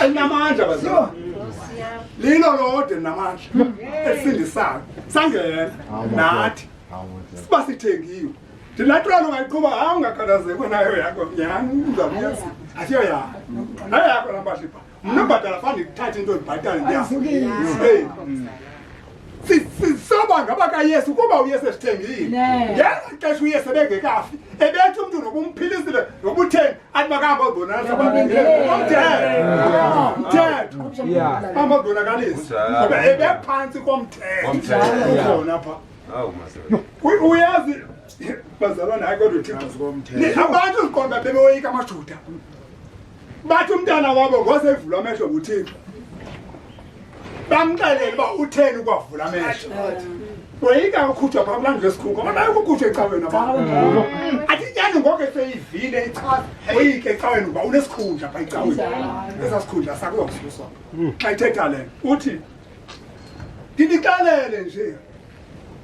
elinamandla bazalwane lilo lode namandla elisindisayo sangena nathi siba sithengiwe ndinatwana ungayiqhuba hayi ungakhalazekwe nayo yakho nyhani uzamyazi asiyo yakho nayo yakho lambashibha mna ubhatala fani ndithathe into ndibhatale ndiyaeyi sisoba ngabakayesu kuba uyesu esithengile yenza ixesha uyesu ebengekafi ebethi umntu nobumphilizile nobutheni athi makahamba odonaamthetho hamba odonakalisi ngoba ebephantsi komthethona pha uyazi bazalwana hayi kodwa thixo abantu ziqonda bebewoyika amajuda bathi umntana wabo ngosevulwa amehlo nguthixo bamxelele uba utheni ukwavula amehlo woyika ukhutshwa phaa kulandlu esikhungo kodwa yokukhutshwa ecaweni athi nyani ngoke seyivile ichaza woyike ecaweni uba unesikhundla phaa ecaweni esa sikhundla sakuzokususwa xa ithetha le uthi ndinixelele nje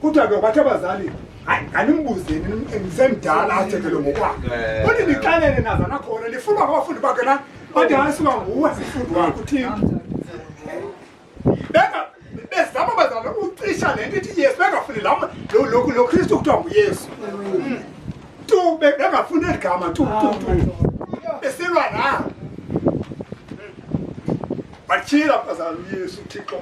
kuthiwa ke kwathi abazali hayi animbuzeni ndisemdala athethe lo ngokwakhe eh. uthi ndixelele nazana khona lifunwa ngabafundi bakhe na bathi hayi suka nguwe sifundi wakho uthini bezama bazala ucisha le nto ithi yesu bengafuni lo kristu kuthiwa nguyesu mm. tu bengafuni eli gama tu tu tu besilwa na batyhila bazala uyesu uthixo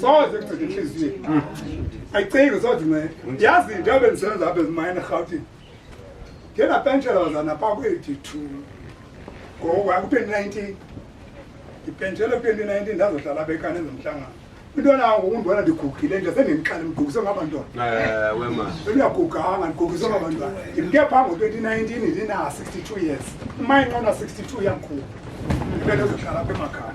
soze kucitha intliziyo ayicingi sothi mna yazi into abe ndisebenza apha ezimayini erhawutini ngenapentshela bazana phaa kwi-eighty-two ngoku aku-twenty nineteen ndipentshele ku-twenty nineteen ndazohlala bekane ezomhlangano into nango undibona ndigugile nje sendindixale ndigugise ngabantwanauyaguganga ndigugise ngabantwana ndimke phaa ngo-twenty nineteen ndina-sixty two years umayinqona-sixty two yakhulu ndibe ndizohlala apha emakhaya